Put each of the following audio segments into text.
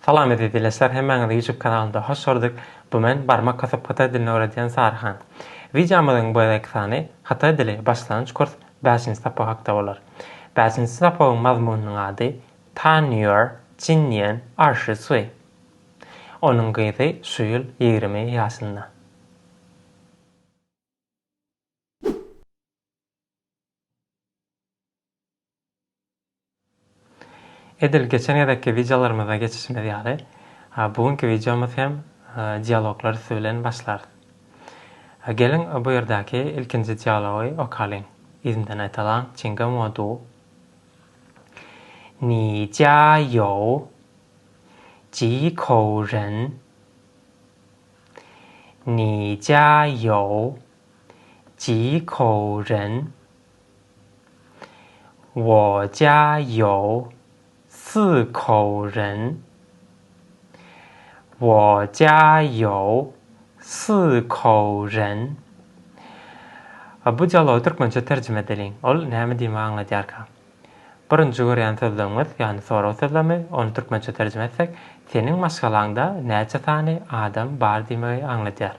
Salam eziz dileşler hemmäňizi ýutup kanalynda hoş gördük bu men barmak kasyp hytaý dilini öwredýän saryhan wideomyzyň bu gezekki sany hytaý dili başlangyç kurs bäşinji sapak hakda bolar bäşinji sapagyň mazmunynyň ady tan ýör jin nian er shi sui onuň gyzy şu ýyl ýigrimi ýaşynda. Edil geçen gezekki wideolarymyza geçişimiz ýaly, bu günki wideomyz hem dialoglar üsti bilen başlarys. Geliň, bu ýerdäki ilkinji dialogy okalyň. Yzymdan aýtalaň, Çinga mo du. Ni jia you ji kou ren. Ni jia you Ji kou ren, Wo jia you, Si kou ren, Wo jia you, Si kou ren. Bu dialogy türkmençe terjime edeliň. Ol näme diýmegi aňladýarka? Birinji görýän sözlügimiz, ýagny sorag sözlemi, ony türkmençe terjime etsek, Seniň maşgalaňda näçe sany adam bar diýmegi aňladýar.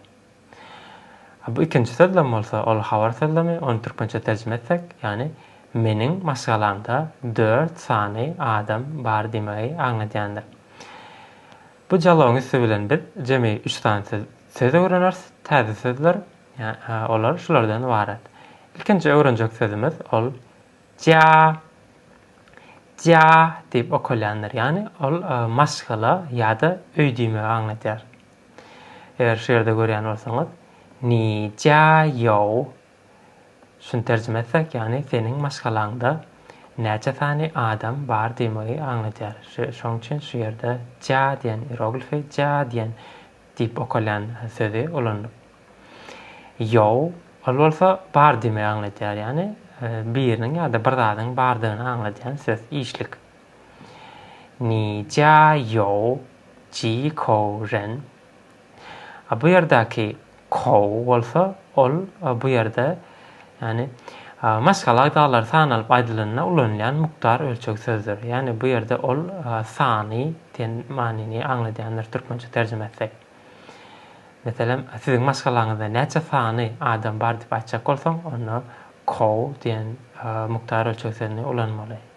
A bu ikinji sözlem bolsa, ol habar sözlemi, ony türkmençe terjime etsek, ýagny meniň maşgalamda dört sany adam bar diýmegi aňladýandyr. Bu dialogyň üsti bilen biz jemi üç sany söz öwreneris, täze sözler, olar şulardan ybarat. Ilkinji öwrenjek sözümiz ol ja ja diýip okalýandyr, ýagny ol maşgala ýa-da öý diýmegi aňladýar. Eger şu ýerde görýän bolsaňyz, Ni jia jou. Şuny terjime etsek, ýagny seniň maşgalaňda näçe sany adam bar diýmegi aňladýar. Şoň üçin şu ýerde jia diýen ieroglifi jia diýen diýip okalýan sözi ulanylyp. Jou, ol bolsa bar diýmegi aňladýar, ýagny biriniň ýa-da bir zadyň bardygyny aňladýan söz, işlik. Ni jia you ji kou ren. A bu ýerdäki kou bolsa, ol bu ýerde, ýagny maşgala agzalary sanalyp aýdylanda ulanylýan mukdar ölçeg sözdür. Ýagny bu ýerde ol sany diýen manyny aňladýandyr türkmençe terjime etsek. Meselem, siziň maşgalaňyzda näçe sany adam bar diýip aýtjak bolsaň, onda kou diýen mukdar ölçeg sözüni ulanmaly.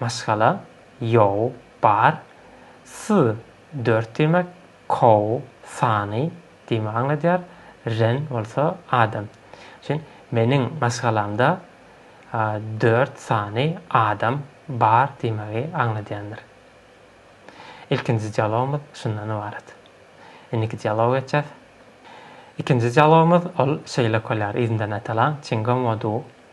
Maşgala, Ýow, bar. S, dört diýmek, kow, sany, diýmegi aňladýar, ren bolsa, adam. Üçin, Meniň maşgalamda dört sany adam bar diýmegi aňladýandyr. Ilkinji dialogymyz şundan ybarat. Indiki dialoga geçýäs. Ikinji dialogymyz ol şeýle köler, yzyndan aýtalaň, Çingom wo du.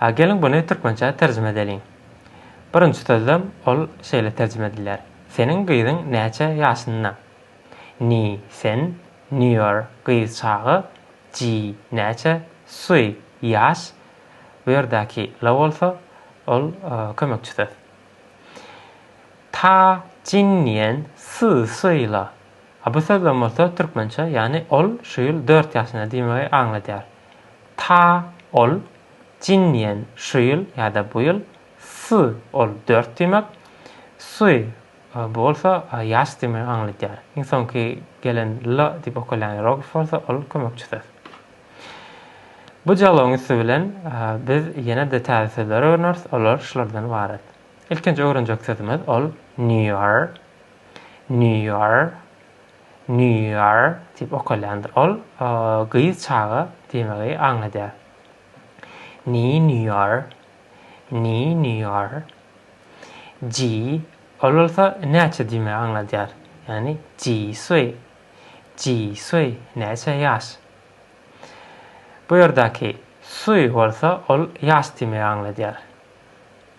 A geliň buny türkmençä terjime edeliň. Birinji sözlem ol şeýle terjime edilýär, Seniň gyzyň näçe ýaşynda? Ni, sen, nior, gyz çaga, ji, näçe, sui, ýaş, bu ýerdäki la bolsa, ol kömekçi söz. Ta jinnian si sui la. A bu sözlem bolsa türkmençe, ýagny ol şu ýyl dört ýaşynda diýmegi aňladýar. Ta ol jin diýen şu ýyl ýa-da bu ýyl, Sy ol dört diýmek, Sy bu bolsa ýaş diýmegi aňladýar. Iň soňky gelen L diýip okalýan ieroglif bolsa ol kömekçi söz. Bu dialogyň üsti bilen biz ýene-de täze sözler öwreneris, olar şulardan ybarat. Ilkinji öwrenjek sözümiz ol New Year, New Year. Nýýar diýip okalýandyr. Ol gyz çaga diýmegi aňladýar. Ny Nýýar, Ny Nýýar. Ji, ol bolsa näçe diýmegi aňladýar. Ýagny ji suý, ji suý, näçe ýaş. Bu ýerdäki suý bolsa ol ýaş diýmegi aňladýar.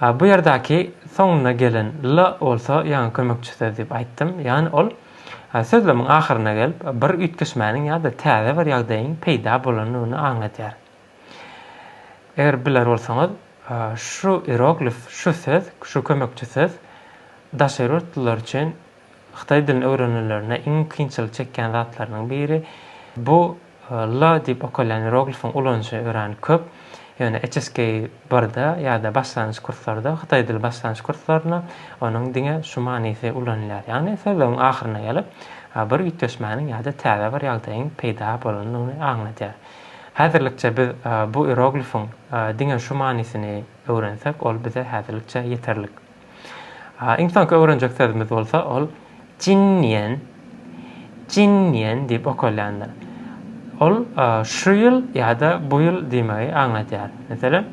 Bu ýerdäki soňunda gelen la bolsa ýaňy kömekçi söz diýip aýtdym. Ýagny ol sözlemiň ahyryna gelip, bir üýtgeşmäniň ýa-da täze bir ýagdaýyň peýda bolandygyny aňladýar. Eger biler bolsaňyz, şu ieroglif, şu söz, şu kömekçi söz daşary ýurtlular üçin hytaý dilini öwrenenlerinde iň kynçylyk çekýän zatlarynyň biri. Bu L diýip okalýan ieroglifiň ulanyjy örän köp, ýöne HSK birde ýa-da başlangyç kurslarda, hytaý dili başlangyç kurslarynda onuň diňe şu manysy ulanylýar, ýagny sözlügiň ahyryna gelip, bir üýtgeşmäniň ýa-da täze bir ýagdaýyň peýda bolandygyny aňladýar. Häzirlikçe biz bu ieroglifiň diňe şu manysyny öwrensek, ol bize häzirlikçe ýeterlik. Iň soňky öwrenjek sözümiz bolsa ol Jinniýen, Jinniýen diýip okalýandyr. Ol şu ýyl ýa-da bu ýyl diýmegi aňladýar. Meselem,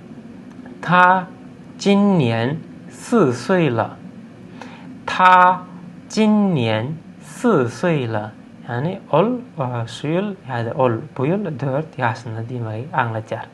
Ta Jinniýen sy syýla. Ta Jinniýen sy syýla. Ýagny ol şu ýyl ýa-da ol bu ýyl dört ýaşynda diýmegi aňladýar.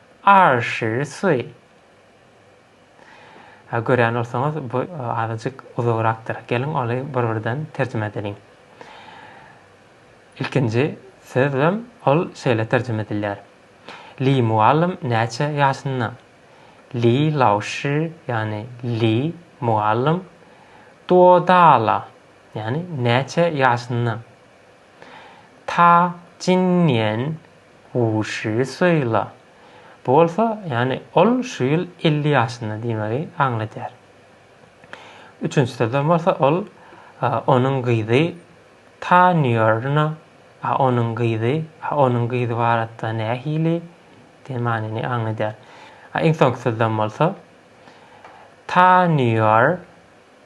Arr şir suy. He görýän bolsaňyz bu azajyk uzagrakdyr. Geliň oly bir birden terjime edeliň. Ilkinji sözlem ol şeýle terjime edilýär. Li mugallym näçe ýaşynda? Li laoşi ýagny Li mugallym duodala ýagny näçe ýaşynda? Ta Jinniýen Wushi Suýla. Bu bolsa, ýagny ol şu ýyl elli ýaşynda diýmegi aňladýar. Üçünji sözlem bolsa ol onuň gyzy Ta Nýorna a onuň gyzy a onuň gyzy baratda nähili diýen manyny aňladýar. A iň soňky sözlem bolsa Ta Nýor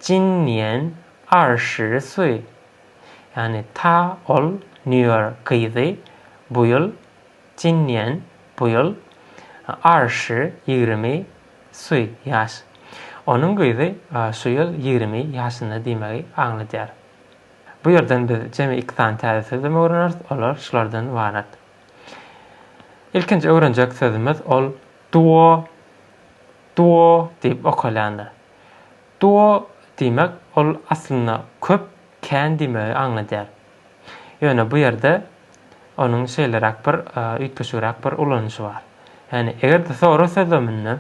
Jinniýen Arşy Suý. Ýagny ta ol Nýuýork gyzy bu ýyl Jinnian bu ýyl Arşy ýigrimi Suý ýaş. Onuň gyzy şu ýyl ýigrimi ýaşynda diýmegi aňladýar. Bu ýerden biz jemi iki sany täze sözlem öwreneris, olar şulardan ybarat. Ilkinji öwrenjek sözümiz ol duo, duo diýip okalýandyr. Duo diýmek ol aslynda köp, kän diýmegi aňladýar. Ýöne bu ýerde onuň şeýleräk bir, üýtgeşigräk bir ulanyşy bar. Ýagny eger-de sorag sözleminde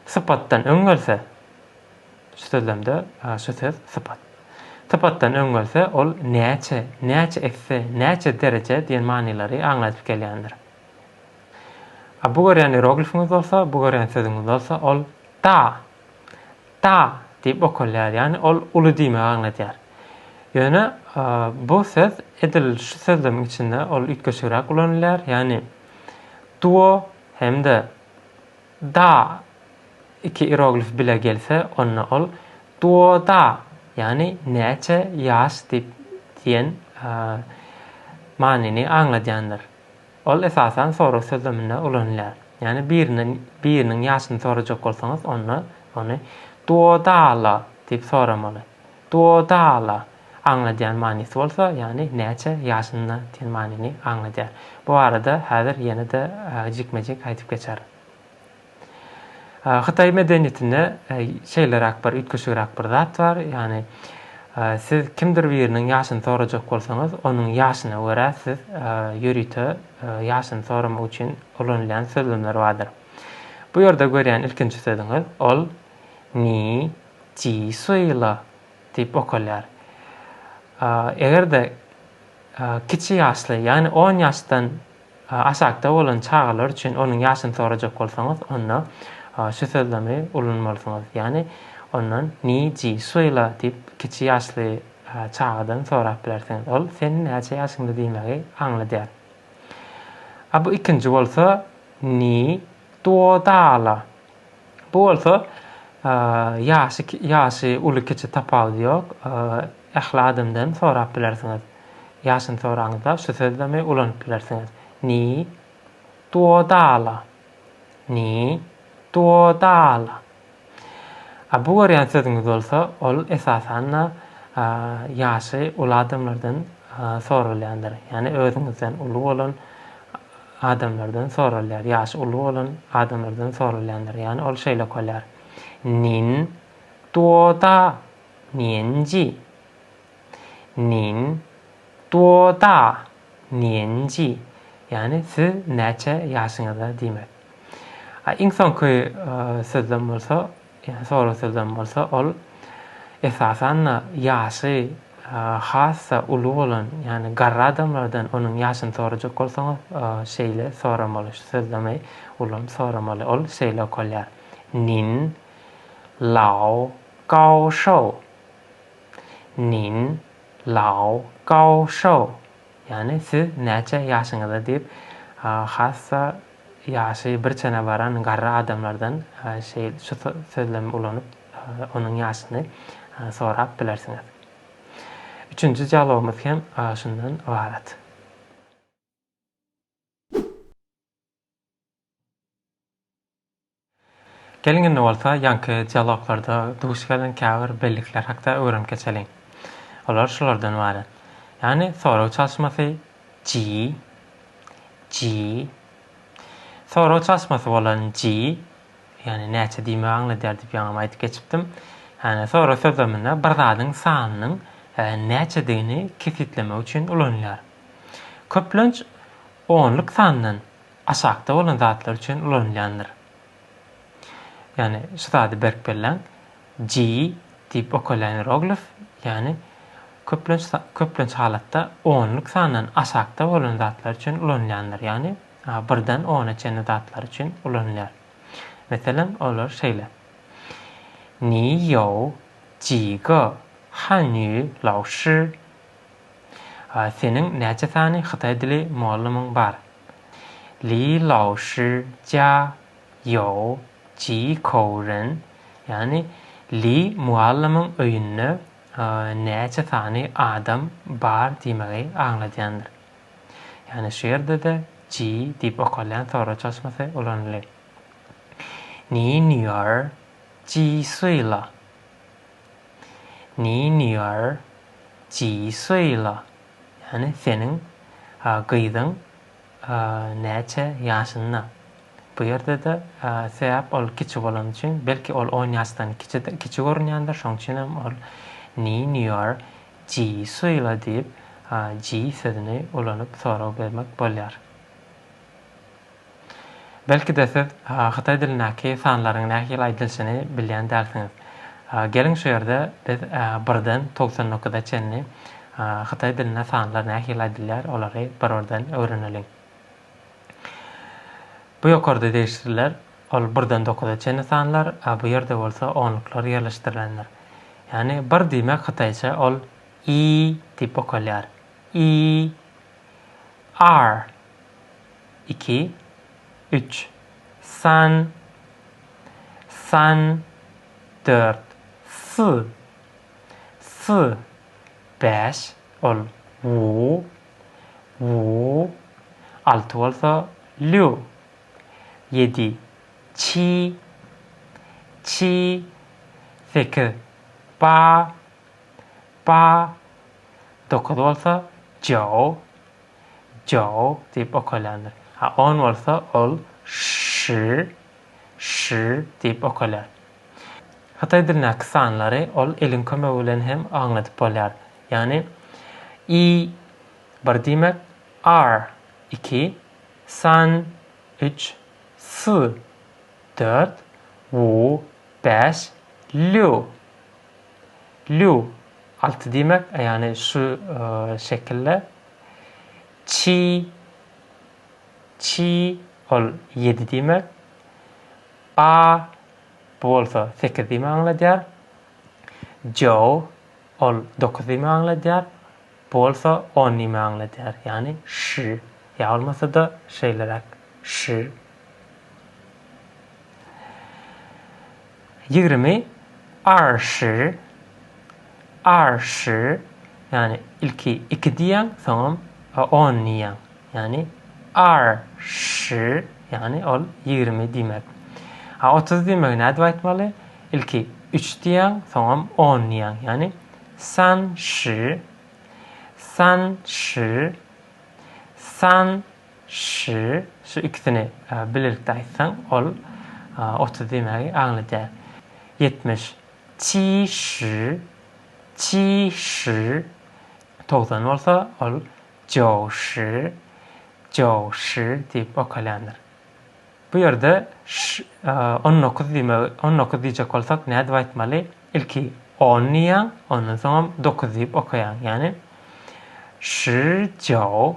sypatdan öň gelse, şu sözlemde şu söz sypat. Sypatdan öň gelse ol näçe, näçe esse, näçe dereje diýen manylary aňladyp gelýändir. A bu görýän ieroglifiňiz bolsa, bu görýän sözüňiz bolsa ol da Da diýip okalýar, ýagny ol uly diýmegi aňladýar. Ýöne bu söz edil şu sözlemiň içinde ol üýtgeşigräk ulanylýar, ýagny duo hem-de da iki ieroglif bile gelse, onda ol duoda, ýagny näçe ýaş diýip diýen manyny aňladýandyr. Ol esasan sorag sözleminde ulanylýar. Ýagny birinden biriniň ýaşyny sorajak bolsaňyz, onda ony Duodala diýip soramaly. Duodala aňladýan manysy bolsa, ýagny näçe ýaşynda diýen manyny aňladýar. Bu barada häzir ýene-de jikme-jik aýdyp geçerin. Hytaý medeniýetinde şeýleräk bir üýtgeşigräk bir zat bar. Ýagny siz kimdir biriniň ýaşyny sorajak bolsaňyz, onuň ýaşyna görä siz ýörite ýaşyny soramak üçin ulanylýan sözlemler bardyr. Bu ýerde görýän ilkinji sözüňiz ol Ni ji sui le diýip okalýar. Eger-de kiçi ýaşly, ýagny on ýaşdan Aşakda bolan çagalar üçin onuň ýaşyny sorajak bolsaňyz, onda şu sözlemi ulanmalysyňyz. Ýagny, ondan Ni ji sui la diýip, kiçi ýaşly çagadan sorap bilersiňiz. Ol Sen näçe ýaşyňda diýmegi aňladýar. A bu ikinji bolsa Ni Duodala. Bu bolsa ýaşy ýaşy uly-kiçi tapawudy ýok. Ähli adamdan sorap bilersiňiz. Ýaşyny soraňyzda şu sözlemi ulanyp bilersiňiz. Ni duodala. Ni duodala. A bu görýän sözüňiz bolsa, ol esasan-da ýaşy uly adamlardan soralýandyr. Ýagny özüňizden uly bolan adamlardan soralýar. Ýaşy uly bolan adamlardan soralýandyr. Ýagny ol şeýle okalar. Nin duo da nienji? Nin duo da Njy, ýagny siz näçe ýaşyňyzda diýmek. A iň soňky sözlem bolsa, ýagny sorag sözlem bolsa, ol, esasan-da, ýaşy has-da uly bolan, ýagny garry adamlardan onuň ýaşyny sorajak bolsaňyz, şeýle soramaly, şu sözlemi ulanyp soramaly. Ol şeýle okalýar, Nin lao gao shou. Nin. Lao Gao Shou, ýagny siz näçe ýaşyňyzda diýip, hassa ýaşy bir çene baran garry adamlardan şeýle şu sözlemi ulanyp, onuň ýaşyny sorap bilersiňiz. Üçünji dialogymyz hem şundan ybarat. Geliň indi bolsa ýaňky dialoglarda duş gelen käbir bellikler hakda öwrenip geçeliň. Olar şulardan ybarat. Ýagny sorag çalyşmasy ji, ji, sorag çalyşmasy bolan ji, ýagny näçe diýmegi aňladýar diýip ýaňam aýdyp geçipdim. Ýagny sorag sözleminde bir zadyň sanynyň näçedigini kesgitlemek üçin ulanylýar. Köplenç onluk sandan aşakda bolan zatlar üçin ulanylýandyr. Ýagny şu zady berk belläň, ji diýip okalýan ieroglif, ýagny köplenç köplenç halatda onluk sandan aşakda bolan zatlar üçin ulanylýandyr, ýagny birden ona çenli zatlar üçin ulanylýar. Meselem, olar şeýle, Ni you ji ge han yu lao shi A seniň näçe sany hytaý dili mugallymyň bar? Li laoşy jia you ji kou ren, ýagny Li mugallymyň öýünde näçe sany adam bar diýmegi aňladýandyr. Ýagny şu ýerde-de ji diýip okalýan soraw çalşmasy ulanylýar. Ni nüýer ji sui la? Ni niýer ji suýla, ýagny seniň gyzyň näçe ýaşynda? Bu ýerde-de sebäp ol kiçi bolany üçin, belki ol on ýaşdan kiçidir, kiçi görünýändir, şonuň üçin hem ol Ni niýer ji suýla diýip, ji sözüni ulanyp sorag bermek bolýar. Belki-de siz hytaý dilindäki sanlaryň nähili aýdylşyny bilýän dälsiňiz. Geliň şu ýerde biz birden togsan dokuza çenli hytaý dilinde sanlar nähili aýdylýar olary bir-birden öwreneliň. Bu ýokarda degişliler ol birden dokuza çenli sanlar, a bu ýerde bolsa onluklar ýerleşdirilendir. Ýagny bir diýmek hytaýça ol i diýip okalýar. I. R. Iki. Üç. San. San. Dört. S. S. Bäş. Ol. Wu. Wu. Alty bolsa Lýu. Ýedi. Çi. Çi. Sekiz. Ba. Ba. Dokuz bolsa Jao. Jow diýip okalýandyr. A on bolsa ol şşy, şşy diýip okalýar. Hytaý dilindäki sanlary ol eliň kömegi bilen hem aňladyp bolýar. Ýagny, i, bir diýmek, ar, iki, san, üç, sy, dört, wu, bäş, lýu. Lýu, alty diýmek, ýagny şu şekilde. Çi, çi, ol ýedi diýmek. A, bu bolsa sekiz diýmek aňladýar. Jou, ol dokuz diýmek aňladýar. Bu bolsa on diýmek aňladýar. Ýagny şi, ýa bolmasa-da şeýleräk, şi. Ýigrimi Arşyr Arşyr ýagny ilki iki diýýäň soňam on diýýäň ýagny Ar şyr ýagny ol ýigrimi diýmek a otuz diýmegi nädip aýtmaly ilki üç diýýäň soňam on diýýäň ýagny San şyr San şyr San Ş, şu ikisini birlikde aýtsaň, ol otuz diýmägi aňladýar. Ýetmiş. Qi ş, qi ş. Togsan bolsa, ol jiou ş, jiou ş diýip okalýandyr. Bu ýerde ş, on dokuz diýmegi, on dokuz diýjek bolsak, nädip aýtmaly? Ilki on diýýäň, ondan soňam dokuz diýip okaýaň. Ýagny, Ş jiao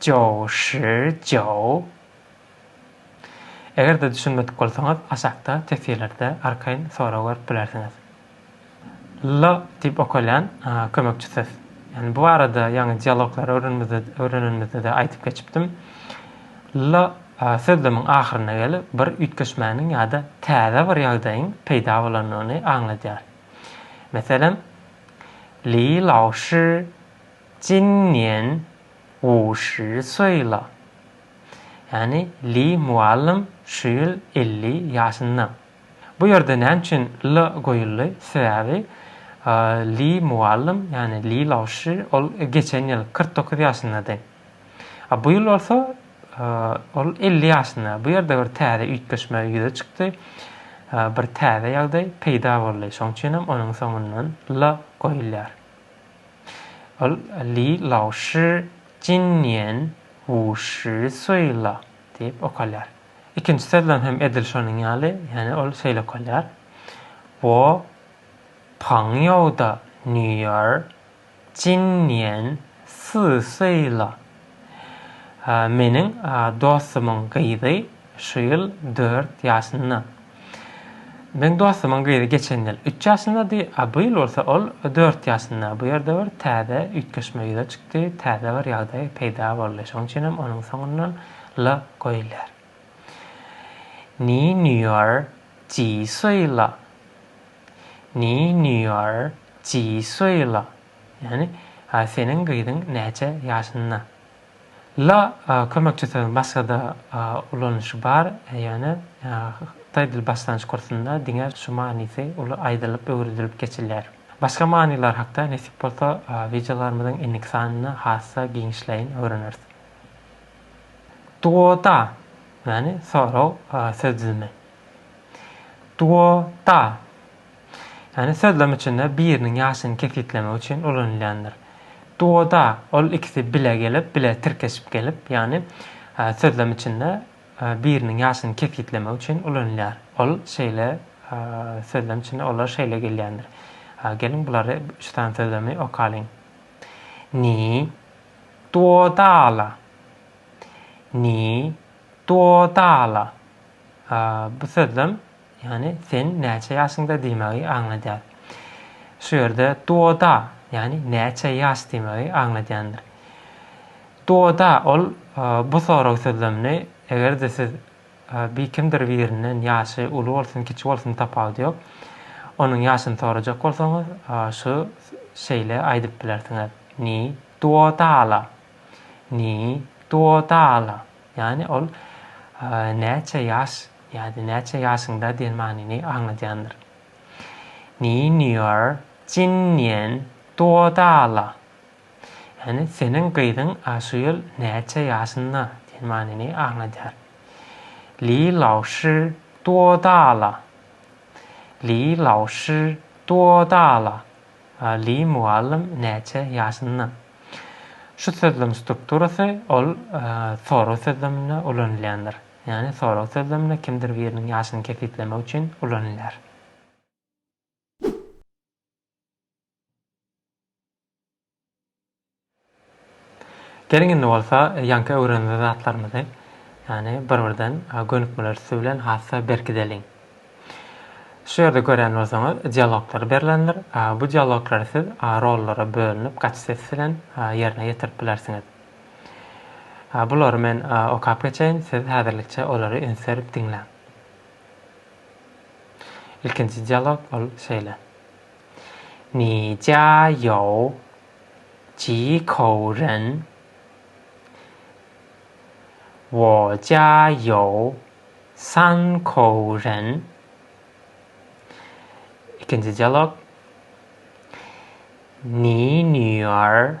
Joe Shi Joe Eger-de düşünmedik bolsaňyz, aşakda teswirlerde arkaýyn sorag görüp bilersiňiz. L diýip okalýan kömekçi söz. Ýagny bu barada ýaňy dialoglary öwrenmizde öwrenenimizde-de aýdyp geçipdim. L sözlemiň ahyryna gelip bir üýtgeşmäniň ýa-da täze bir ýagdaýyň peýda bolandygyny aňladýar. Meselem, Li Lao Shi 今年五十岁了。Ýagny Li mugallym şu ýyl elli ýaşynda. Bu ýerde näme üçin le goýuldy? Sebäbi Li mugallym, ýagny Li laoşi ol geçen ýyl kyrk dokuz ýaşyndady. A bu ýyl bolsa ol elli ýaşynda. Bu ýerde bir täze üýtgeşme ýüze çykdy. Bir täze ýagdaý peýda boldy. Şonuň üçin hem onuň soňundan le goýulýar. Ol Li Lao Shi Jin Nian Wu Shi Sui La diýip okalýar. Ikinji sözlem hem edil şonuň ýaly, ýagny ol şeýle okalýar, Wo Pang Ýou Da Nü Ýer Jin Nian Si Sui La. Meniň dostumyň gyzy şu ýyl dört ýaşynda. Meniň dostumyň gyzy geçen ýyl üç ýaşyndady, a bu ýyl bolsa ol dört ýaşynda. Bu ýerde bir täze üýtgeşme ýüze çykdy, täze bir ýagdaý peýda boldy. Şonuň üçinem onuň soňundan la goýulýar. Ni nüýer ji suýla? Ni nüýer ji suýla? Ýagny, a seniň gyzyň näçe ýaşynda? La kömekçi sözüň başgada ulanyşy bar, ýöne hytaý dil başlangyç kursunda diňe şu manysy uly aýdylyp öwredilip geçilýär. Başga manylar hakda nesip bolsa wideolarymyzyň indiki sanynda has-da giňişleýin öwreneris. Duoda, ýagny sorag söz düzümi. Duoda. Ýagny sözlem içinde biriniň ýaşyny kesgitlemek üçin ulanylýandyr. Duoda ol ikisi bile gelip, bile tirkeşip gelip, ýagny sözlem içinde biriniň ýaşyny kesgitlemek üçin ulanylýar. Ol şeýle sözlem içinde olar şeýle gelýändir. Geliň bulary üç sany sözlemi okalyň. Ni duodala. Ni duodala. Bu sözlem Ýagny sen näçe ýaşyňda diýmegi aňladýar. Şu ýerde duoda, ýagny näçe ýaş diýmegi aňladýandyr. Duoda ol bu sorag sözlemini eger-de siz bir kimdir birinden ýaşy uly bolsun, kiçi bolsun tapawudy ýok, onuň ýaşyny sorajak bolsaňyz şu şeýle aýdyp bilersiňiz, Ni duodala. Ni duodala. Ýagny ol näçe ýaş Ýa-da näçe ýaşyňda diýen manyny aňladýandyr. Niýniýor jinniýen duodala. Ýagny seniň gyzyň şu ýyl näçe ýaşynda diýen manyny aňladýar. Li laoşi duodala. Li laoşi duodala. Li mugallym näçe ýaşynda. Şu sözlem strukturasy ol soraw sözleminde ulanylýandyr. Ýagny sorag sözlemine kimdir biriniň ýaşyny kesgitlemek üçin ulanylýar. Geliň indi bolsa ýaňky öwrenilen zatlarymyzy, ýagny bir-birden gönükmeler üsti bilen has-da berkideliň. Şu ýerde görýän bolsaňyz dialoglar berlendir. Bu dialoglary siz rollara bölünip gaç ses bilen ýerine ýetirip bilersiňiz. Bulary men okap geçeýin, siz häzirlikçe olary üns berip diňläň. Ilkinji dialog ol şeýle. Ni jia you ji kou ren Wo jia you san kou ren Ikinji dialog Ni nüýar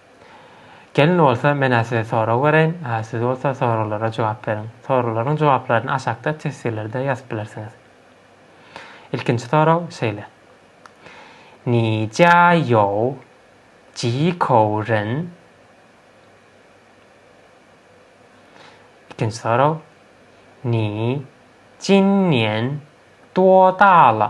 Gelin bolsa men-ä size sorag bereýin, siz bolsa soraglara jogap beriň. Soraglaryň jogaplaryny aşakda teswirlerde ýazyp bilersiňiz. Ilkinji sorag şeýle. Ni jia you ji kou ren? Ikinji sorag. Ni jin nian duo da le?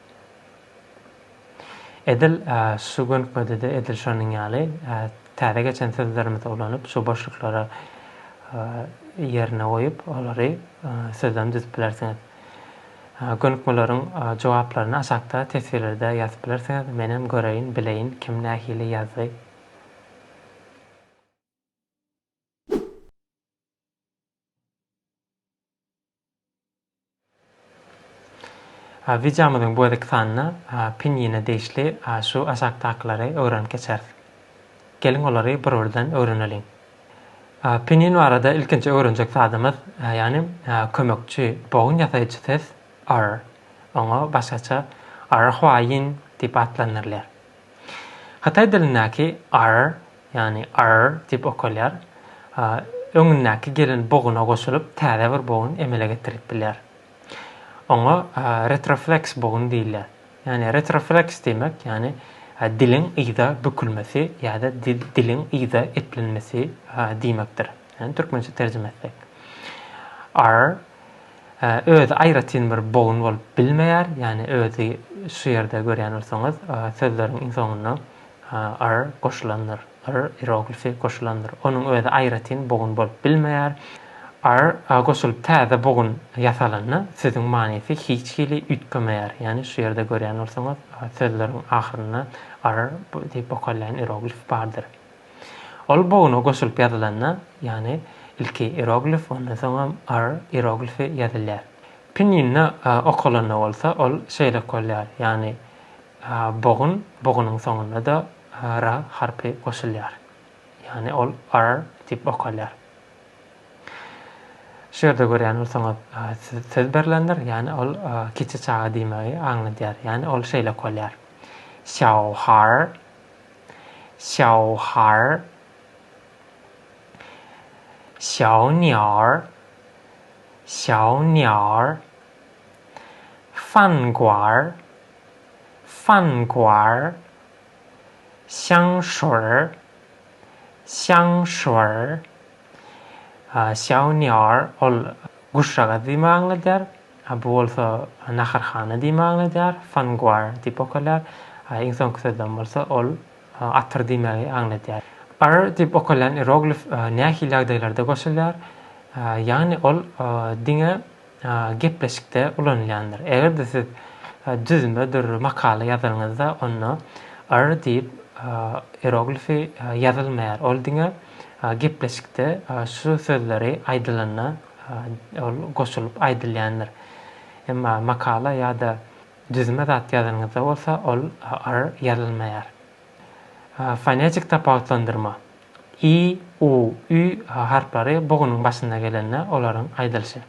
Edil şu günküde-de edil şonuň ýaly täze geçen sözlerimizi ulanyp, şu boşluklary ýerine goýup, olary sözlem düzüp bilersiňiz. Gönükmeleriň jogaplaryny aşakda teswirlerde ýazyp bilersiňiz, menem göreýin, bileýin kim nähili ýazdy. Wideomyzyň bu gezeki sanynda pinýine degişli şu aşakdakylary öwrenip geçeris. Geliň olary bir-birden öwreneliň. Pinýin barada ilkinji öwrenjek zadymyz, ýagny kömekçi, bogun ýasaýjy ses r. Oňa başgaça r-hwaýin diýip atlandyrylýar. Hytaý dilindäki r ýagny arr diýip okalýar, öňündäki gelen boguna goşulyp, täze bir bogun emele getirilip bilýär. Oňa retrofleks bogun diýilýär. Ýagny retrofleks diýmek, ýagny diliň yza bükülmesi ýa-da diliň yza eplenmesi diýmekdir. Ýagny türkmençe terjime etsek. Arr özi aýratyn bir bogun bolup bilmeýär, ýagny özi şu ýerde görýän bolsaňyz, sözleriň iň soňunda R goşulandyr. R iroglifi goşulandyr. Onuň özi aýratyn bogun bolup bilmeýär. R goşulyp täze bogun ýasalanda sözüň manysy hiç hili üýtgemeýär. Ýagny şu ýerde görýän bolsaňyz, sözleriň ahyrynda R diýip bokalýan iroglif bardyr. Ol boguna goşulyp ýazylanda, ýagny ilki iroglif, ondan soňam R iroglifi ýazylýar. Pinýinde okalanda bolsa ol şeýle okalýar, ýagny Bogun, bogunyň soňunda-da r harpy goşulýar. Ýagny ol ar diýip okalýar. Şu ýerde görýän bolsaňyz, söz berlendir, ýagny ol kiçi çaga diýmegi aňladýar. Ýagny ol şeýle okalýar. Xiaohar, xiaohar, xiaoniar, xiaoniar, fanguar, Fanguar, Xiangshur, Xiangshur, Xiaonior, ol guşagaz diýme aňladýar, bu bolsa naharhana diýme aňladýar, Fanguar diýip okalýar, iň soňky sözden bolsa ol atyr diýmegi aňladýar. Ar diýip okalýan ieroglif nähili ýagdaýlarda goşulýar? Ýagny ol diňe gepleşikde ulanylýandyr. Eger-de siz düzme bir makala ýazylyňyzda, onda R diýip ieroglifi ýazylmaýar. Ol diňe gepleşikde şu sözleri aýdylanda ol goşulyp aýdylýandyr. Emma makala ýa-da düzme zat ýazylyňyzda bolsa ol R ýazylmaýar. Fonetik tapawutlandyrma. i, u, ü harplary bu günüň başynda gelende olaryň aýdylyşy.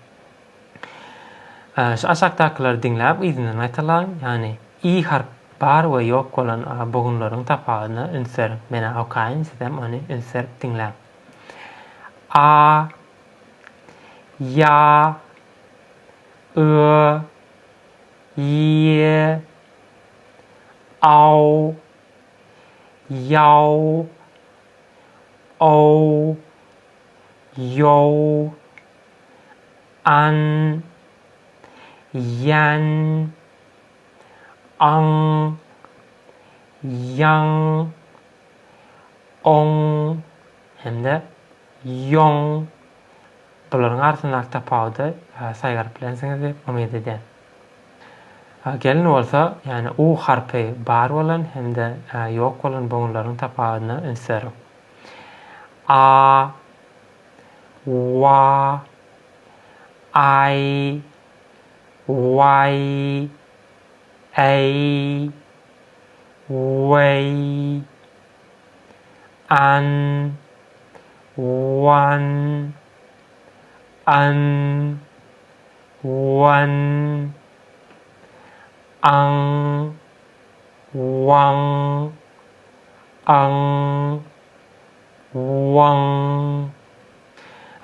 Şu aşakdakylary diňläp yzyndan gaýtalaň, ýagny i harp bar we ýok bolan bu günleriň tapawudyna üns beriň. Men-ä okaýyn, sizem ony üns berip diňläň. A, ýa, ö, ýe, aw, Ýaw, ow, ýow, an, ýän, aň, ýaň, oň hem-de ýoň. Bularyň arasyndaky tapawudy saýgaryp bilensiňiz diýip umyt edýän. A gelin bolsa, ýagny u harpy bar bolan hem-de ä ýok bolan bogunlaryň tapawudyna üns beriň. A wa aý waý äý weý an wan an Wan Aň Waň Aň Waň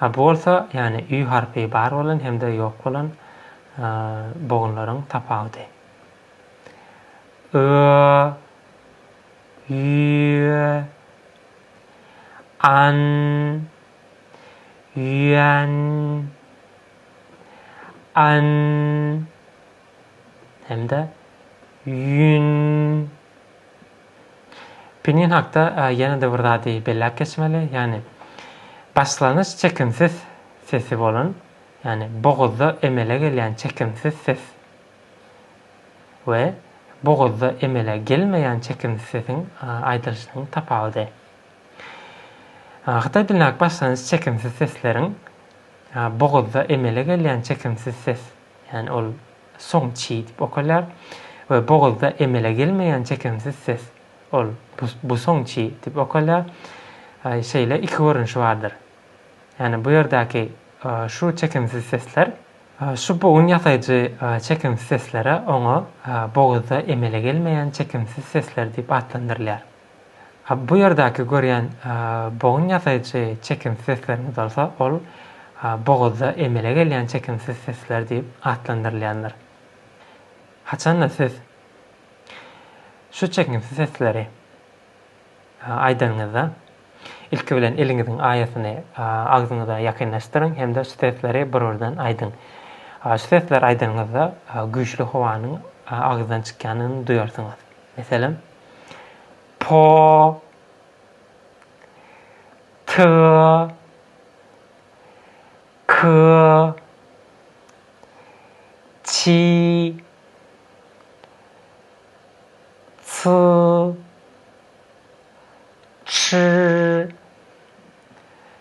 A bu bolsa, ýagny ü harpy bar bolan hem-de ýok bolan bogunlaryň tapawudy. Öö Üýe An Üýän. an hem-de ýün. Pinin hakda ýene-de bir zady belläp geçmeli, ýagny başlanyş çekimsiz sesi bolan, ýagny bogazda emele gelýän çekimsiz ses we bogazda emele gelmeýän çekimsiz sesiň aýdylyşynyň tapawudy. Hytaý dilindäki başlangyç çekimsiz sesleriň bogazda emele gelýän çekimsiz ses, ýagny ol song çi diýip okalýar, we bogazda emele gelmeýän çekimsiz ses, ol bu song çi diýip okalýar, şeýle iki görnüşi bardyr. Ýagny bu ýerdäki şu çekimsiz sesler, şu bogun ýasaýjy çekimsiz seslere oňa bogazda emele gelmeýän çekimsiz sesler diýip atlandyrylýar. Ha, bu ýerdäki görýän bogun ýasaýjy çekimsiz seslerimiz bolsa, ol boguzda emele gelýän çekimsiz sesler diýip atlandyrylýandyr. Haçan-da siz şu çekimsiz sesleri aýdanyňyzda, ilki bilen eliňiziň aýasyny agzyňyza ýakynlaşdyryň hem-de şu sesleri bir-birden aýdyň. Şu sesleri aýdanyňyzda güýçli howanyň agzydan çykýanyny duýarsyňyz. Meselem, po, ty, ky, çi, çy, çy.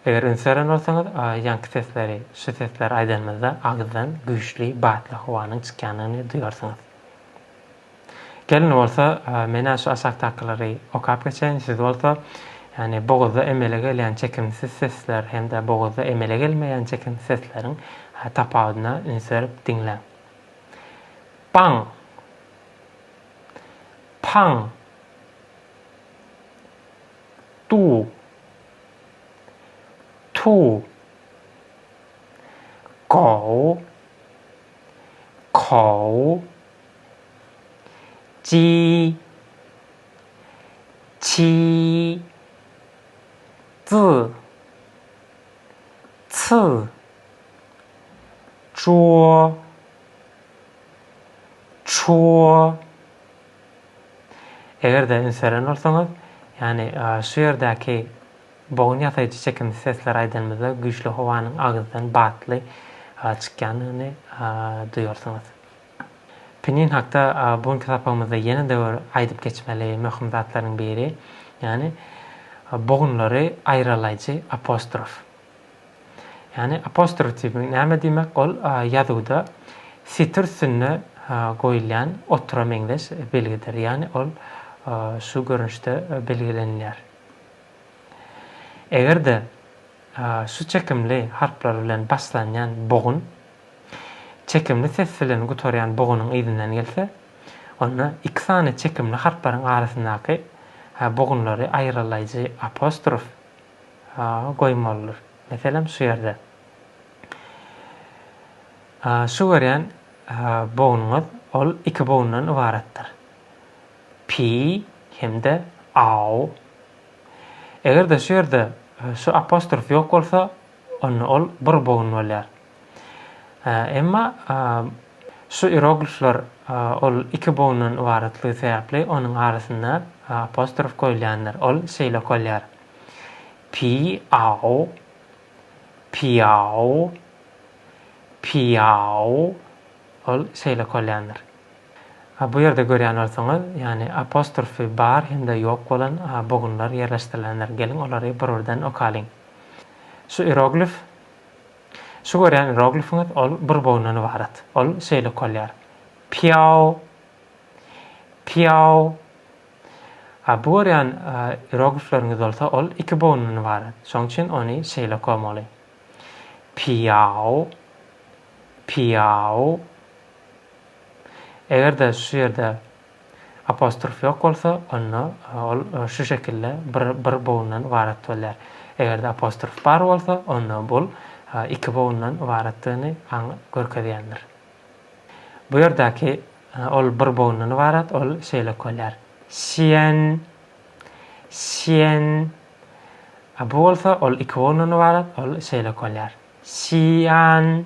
Eger üns beren bolsaňyz, ýaňky sesleri, şu sesleri aýdanymyzda agyzdan güýçli batly howanyň çykýandygyny duýarsyňyz. Gelin bolsa, Men-ä şu aşakdakylary okap geçeýin, siz bolsa, ýagny bogazda emele gelýän çekimsiz sesler hem-de bogazda emele gelmeýän çekimsiz sesleriň tapawudyna üns berip diňläň. Paň. Paň. Du. Tu. Go. Ko. Ji, çi, zy, cy, ço, ço. Eger-de üns beren bolsaňyz, ýagny şu ýerdäki bogun ýasaýjy çekimsiz sesleri aýdanymyzda güýçli howanyň agyzdan batly çykýandygyny duýarsyňyz. Pinin hakda bu günki sapagymyzda ýene-de bir aýdyp geçmeli möhüm zatlaryň biri, ýagny bogunlary aýralaýjy apostrof. Ýagny apostrof diýmek näme diýmek? Ol ýazuwda setir üstünde goýulýan otura meňzeş belgidir. Ýagny ol şu görnüşde belgilenilýär. Eger-de şu çekimli harplar bilen başlanýan bogun Çekimli ses bilen gutarýan bogunyň yzyndan gelse, onda iki sany çekimli harplaryň arasyndaky bogunlary aýrylaýjy apostrof goýmalydyr. Meselem, şu ýerde. Şu görýän bogunyňyz ol iki bogundan ybaratdyr. Pi hem-de au. Eger-de şu ýerde şu apostrof ýok bolsa, onda ol bir bogun bolýar. Emma şu ieroglifler ol iki bogundan ybaratlygy sebäpli onuň arasynda apostrof goýulýandyr. Ol şeýle okalýar. Pi ao piao piao ol şeýle okalýandyr. A bu ýerde görýän bolsaňyz, ýagny apostrfy bar hem-de ýok bolan a bogunlar ýerleşdirilendir. Geliň olary bir-birden okalyň. Şu ieroglif, şu görýän ieroglifiňiz ol bir bogundan ybarat. Ol şeýle okalýar, Piao, Piao. A bu görýän ieroglifleriňiz bolsa ol iki bogundan ybarat. Şoň üçin ony şeýle okamaly, Piao, Piao. Eger-de şu ýerde apostrof ýok bolsa, onda ol şu şekilde bir bir bogundan ybarat bolýar. Eger-de apostrof bar bolsa, onda bul iki bogundan ybaratdygyny aň görkezýändir. Bu ýerdäki ol bir bogundan ybarat, ol şeýle okalýar, Siýen, Siýen. A bu bolsa ol iki bogundan ybarat, ol şeýle okalýar, Siýan.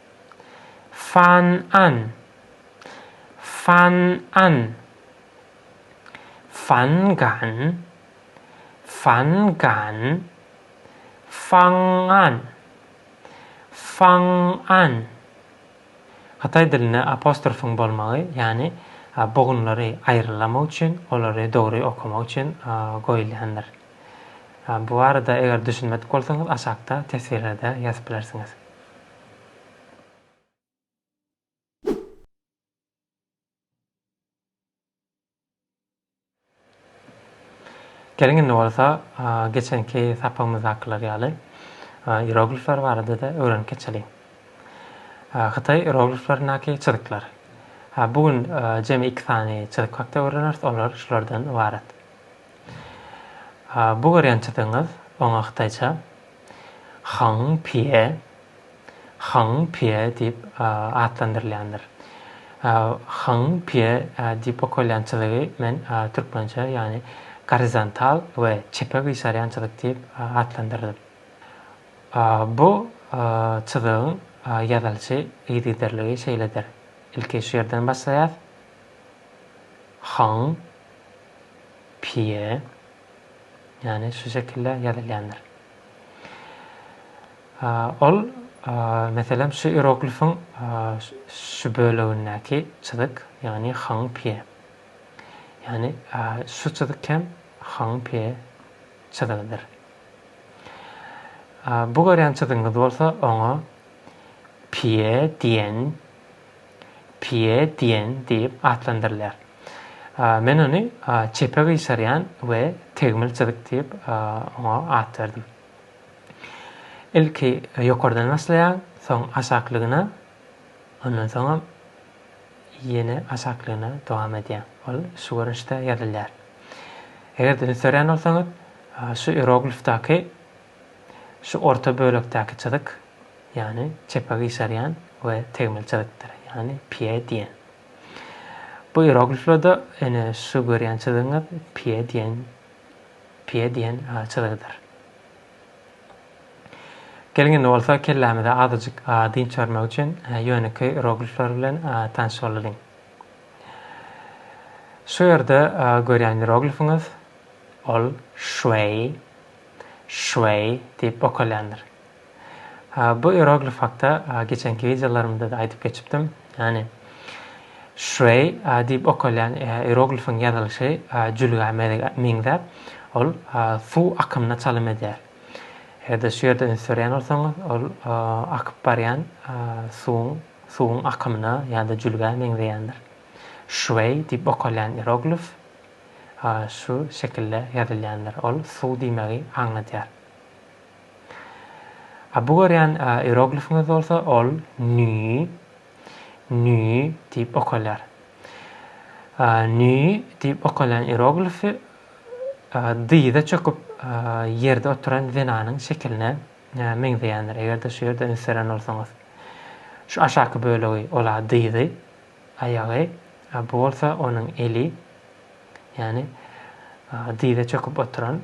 Fan an Fan an Fan gan Fan gan Faň an Faň an Hytaý dilinde apostrofyň bolmagy, ýagny bogunlary aýrylamak üçin, olary dogry okamak üçin goýulýandyr. Bu barada eger düşünmedik bolsaňyz aşakda teswirlerde ýazyp bilersiňiz. Geliň indi bolsa geçenki sapagymyzdakylar ýaly ieroglifler barada-da öwrenip geçeliň. Hytaý ierogliflerindäki çyzyklar. Bu gün jemi iki sany çyzyk hakda öwreneris, olar şulardan ybarat. Bu görýän çyzygyňyz, oňa hytaýça Hang Pýe, Hang Pýe diýip atlandyrylýandyr. Hang Pýe diýip okalýan çyzygy men türkmençe, ýagny gorizontal we çepe gyşarýan çyzyk diýip atlandyrdym. Bu çyzygyň ýazylyşy yzygiderligi şeýledir, ilki şu ýerden başlaýas, Hang Pýe. ýagny şu şekilde ýazylýandyr. Ol, meselem, şu ieroglifiň şu bölegindäki çyzyk, ýagny Hang Pie. Ýagny şu çyzyk hem Hang Pie çyzygydyr. Bu görýän çyzygyňyz bolsa oňa Pie diýen Pie diýen diýip atlandyrylýar. Men ony çepe gyşarýan we tegmil çyzyk diýip oňa at berdim. Ilki ýokardan başlaýaň, soň aşaklygyna, ondan soňam ýene aşaklygyna dowam edýäň. Ol şu görnüşde ýazylýar. Eger-de üns berýän bolsaňyz, şu ieroglifdaky Şu orta bölekdäki çyzyk, ýagny çepe gyşarýan we tegmil çyzykdyr, ýagny pie diýen. Bu ierogliflerde ene şu görýän çyzygyňyz pie diýen pie diýen çyzygydyr. Geliň indi bolsa kellämize azajyk dynç bermek üçin ýönekeý ieroglifler bilen tanyş bolalyň. Şu ýerde görýän ieroglifiňiz ol şwei, Şweý diýip okalýandyr. Bu ieroglif hakda geçenki wideolarymda-da aýdyp geçipdim. Ýagny Şweý diýip okalýan ieroglifiň ýazylyşy jülgä meňzäp, ol suw akymyna çalym edýär. Eger-de şu ýerde üns berýän bolsaňyz, ol akyp barýan suwuň suwuň akymyna ýa-da jülgä meňzeýändir. Şweý diýip okalýan ieroglif. a şu şekilde ýazylýandyr, ol suw diýmegi aňladýar. A bu görýän ieroglifiňiz bolsa ol nüi, nüi diýip okalýar. A nüi diýip okalýan ieroglifi dyza çöküp ýerde oturan zenanyň şekiline meňzeýändir, eger-de şu ýerde üns beren bolsaňyz. Şu aşaky bölegi, ol-a dyzy. Aýagy, a bu bolsa onuň eli, ýagny dyza çöküp oturan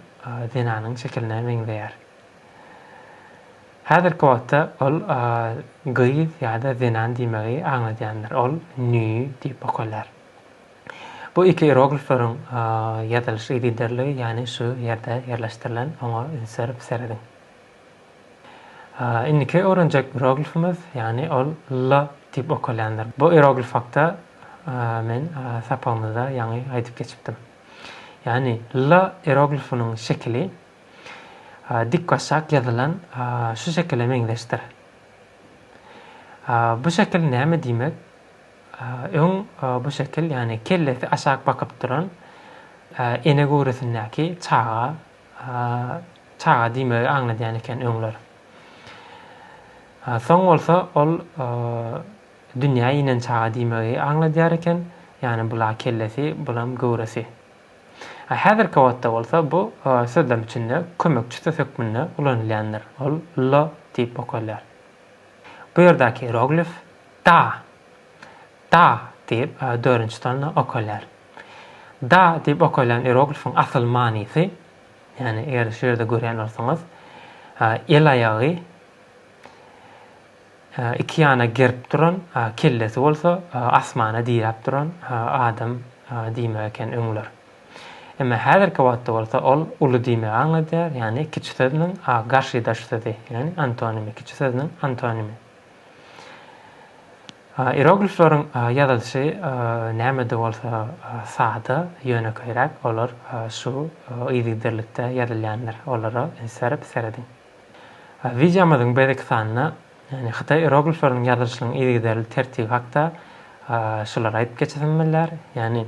zenanyň şekiline meňzeýär. Häzirki wagtda ol gyz ýa-da zenan diýmegi aňladýandyr, ol nü diýip okalýar. Bu iki ieroglifleriň ýazylyş yzyderligi, ýagny şu ýerde ýerleşdirilen, oňa üns berip serediň. Indiki öwrenjek ieroglifimiz, ýagny ol la diýip okalýandyr. Bu ieroglif hakda men sapagymyzda ýaňy aýdyp geçipdim. Ýagny la ieroglifiniň şekili dikbaşak ýazylan şu şekile meňzeşdir. Bu şekil näme diýmek? Öň bu şekil, ýagny kellesi aşak bakyp duran ene göwresindäki çaga A çaga diýmegi aňladýan eken öňler. A soň bolsa ol dünýä inen çaga diýmegi aňladýar eken, ýagny bula kellesi, bulam göwresi. A häzirki wagtda bolsa bu sözlem içinde kömekçi söz hökmünde ulanylýandyr, ol lo diýip okalýar. Bu ýerdäki roglif da, da diýip dörünji tonna okalýar. Da diýip okalýan ieroglifiň asyl manysy, ýagny eger şu ýerde görýän bolsaňyz, el aýagy iki ýana gerip duran, kellesi bolsa asmana diräp duran adam diýmek eken öňler. Emma häzirki wagtda bolsa ol uly diýmegi aňladýar, ýagny kiçi sözüniň garşydaş sözi, ýagny antonimi, kiçi sözüniň antonimi. Ieroglifleriň ýazylyşy näme-de bolsa sada, ýönekeýräk, olar şu yzygiderlikde ýazylýandyr, olara üns berip serediň. Wideomyzyň beýleki sanynda, ýagny hytaý ieroglifleriniň ýazylyşynyň yzygiderli tertibi hakda şulary aýdyp geçesim bilýär, ýagny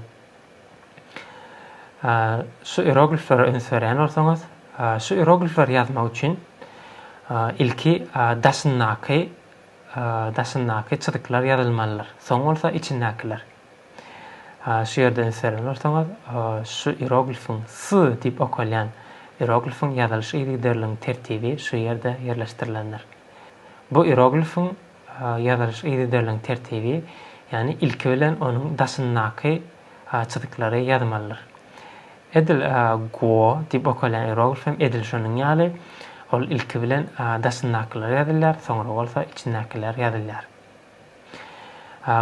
şu ierogliflere üns berýän bolsaňyz, şu ieroglifleri ýazmak üçin ilki daşyndaky daşyndaky çyzyklar ýazylmalydyr, soň bolsa içindäkiler. Şu ýerden ünslerinizi bursaňyz, şu ieroglifiň, s diýip okalýan ieroglifiň ýazylyş yzygiderligiň tertibi şu ýerde ýerleşdirilendir. Bu ieroglifiň ýazylyş yzygiderligiň tertibi, ýagny ilki bilen onuň daşyndaky çyzyklary ýazmalydyr. Edil Go diýip okalýan ieroglif hem edil şonuň ýaly, ol ilki bilen daşyndakylar ýazylýar, soňra bolsa içindäkiler ýazylýar.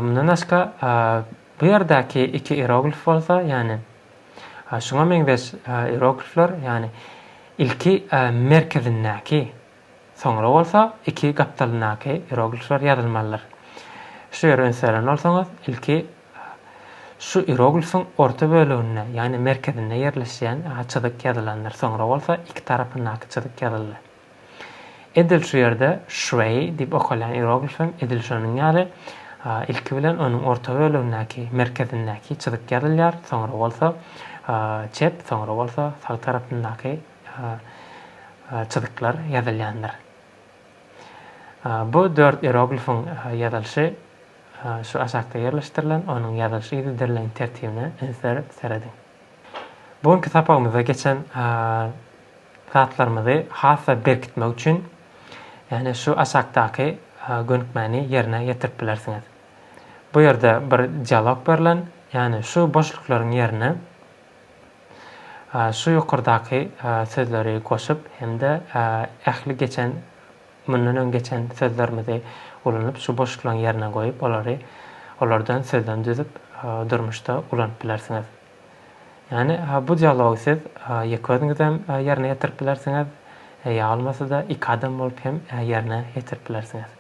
Mundan başga, bu ýerdäki iki ieroglif bolsa, ýagny şuňa meňzeş ieroglifler, ýagny ilki merkezindäki Soňra bolsa iki gapdalyndaky ieroglifler ýazylmalydyr. Şu ýere üns beren bolsaňyz, ilki şu ieroglifiň orta böleginde, ýagny merkezinde ýerleşýän çyzyk ýazylandyr, soňra bolsa iki tarapyndaky çyzyk ýazyldy. Edil şu ýerde Şweý diýip okalýan ieroglif hem edil şonuň ýaly, ilki bilen onuň orta bölegindäki, merkezindäki çyzyk ýazylýar, soňra bolsa çep, soňra bolsa sag tarapyndaky çyzyklar ýazylýandyr. Bu dört ieroglifiň ýazylyşy şu aşakda ýerleşdirilen, onuň ýazylyşy gidirdirilen tertibine ünsler serediň. Bu günki sapagymyzda geçen zatlarymyzy has-da berkitmek üçin, ýagny şu aşakdaky gönükmäni ýerine ýetirip bilersiňiz. Bu ýerde bir dialog berlen, ýagny şu boşluklaryň ýerine Şu ýokardaky sözleri goşup hem-de ähli geçen, mundan öň geçen sözlerimizi ulanyp, şu boşluklaryň ýerine goýup, olary, olardan sözlem düzüp, durmuşda ulanyp bilersiňiz. Ýagny, bu dialogy siz ýeke özüňizem ýerine ýetirip bilersiňiz, ýa bolmasa-da, iki adam bolup hem ýerine ýetirip bilersiňiz.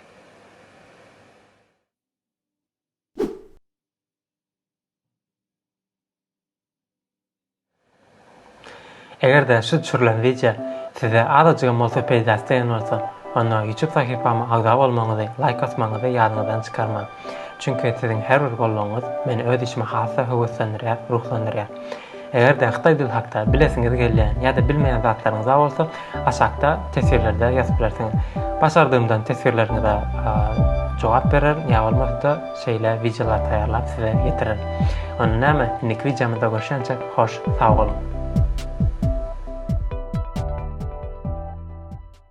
Eger-de şu düşürilen wideo size azajygam bolsa peýdasy degen bolsa, onda YouTube sahypama agza bolmagyňyzy, laýk basmagyňyzy ýadyňyzdan çykarmaň. Çünki siziň her bir goldawyňyz meni öz işime has-da höweslendirýär, ruhlandyrýar. Eger-de hytaý dil hakda bilesiňiz gelýän ýa-da bilmeýän zatlaryňyza bolsa, aşakda teswirlerde ýazyp bilersiňiz. Başardygymdan teswirleriňize jogap bererin ýa bolmasa-da şeýle wideolar taýýarlap size ýetirerin. Onda näme, indiki wideomyzda görşençe, hoş sag boluň!